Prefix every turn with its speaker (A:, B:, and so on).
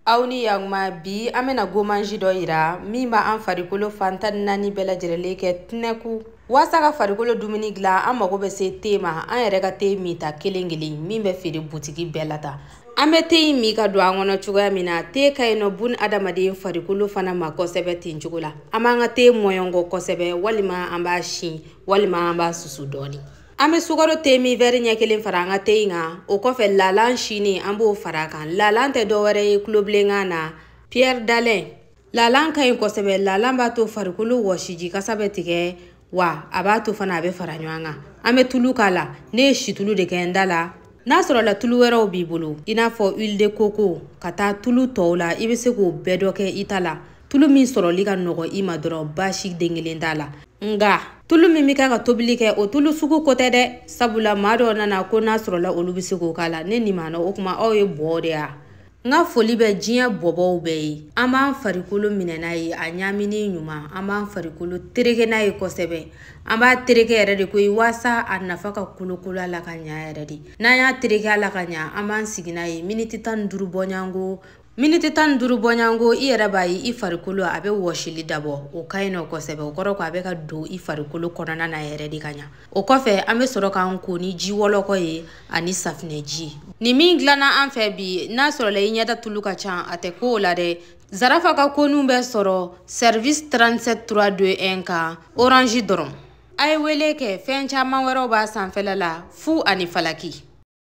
A: aw ni yaguma bi an bena gommage dɔ yira min b' an farikolo fan tan ni naani bɛɛ lajɛrɛlen kɛ tinɛku waasa ka farikolo dumuni dilan an mago bɛ se te ma an yɛrɛ ka te minta kelen kelen min bɛ feere butigi bɛɛ la ta an bɛ te in min ka don an kɔnɔ cogoya min na te ka ɲi nɔ bun adamaden farikolo fana ma kosɛbɛ ten cogo la an b'an ka te mɔɲɔnkɔ kosɛbɛ walima an b'a si walima an b'a susu dɔɔni an bɛ sukaro te min wɛri ɲɛ kelen fara an ka te in kan o kɔfɛ lalan silen an b'o fara a kan lalan tɛ dɔwɛrɛ ye tulobilenkan na pierre d'alun lalan ka ɲi kosɛbɛ lalan b'a to farikolo wɔsiji kasa bɛ tigɛ wa a b'a to fana a bɛ fara ɲɔgɔn kan an bɛ tulu k'a la ne ye situlu de kɛ n ta la n'a sɔrɔla tulu wɛrɛw b'i bolo i n'a fɔ huile de coco ka taa tulu tɔw la i bɛ se k'o bɛɛ dɔ kɛ i ta la tulu min sɔrɔli ka nɔgɔ i ma dɔrɔn baasi den kelen t'a la nga tulu min bɛ kɛ ka tobili kɛ o tulu sugu ko tɛ dɛ sabula maa dɔw nana ko n'a sɔrɔla olu bɛ se k'o k'a la ne nin maa na o kuma aw ye bɔɔ de ya n ka foli bɛ diɲɛ bɔbɔw bɛɛ ye an b'an farikolo minɛ n'a ye a ɲamini ɲuman an b'an farikolo tereke n'a ye kosɛbɛ an b'a tereke yɛrɛ de koyi waasa a nafa ka kolokolo a la ka ɲa yɛrɛ de n'an y'a tereke a la ka ɲa an b'an sigi n'a ye miniti tan ni duuru bɔɲɔgɔnko miniti tan ni duuru bɔɲɔgɔnko i yɛrɛ b'a ye i farikolo a bɛ wɔsili dabɔ o ka ɲi nɔ kosɛbɛ o kɔrɔ ko a bɛ ka don i farikolo kɔnɔna na yɛrɛ de ka ɲa o kɔfɛ an bɛ sɔrɔ k'an ko ni ji wɔlɔkɔ ye ani safinɛji nin min dilanna an fɛ bi n'a sɔrɔla i ɲɛda tulu ka ca a tɛ ko o la dɛ zarafa ka ko ninw bɛ sɔrɔ service 37 3 2 1 kan orange dɔrɔn a ye wele kɛ fɛn caman wɛrɛw b'a sanfɛla la fu ani falaki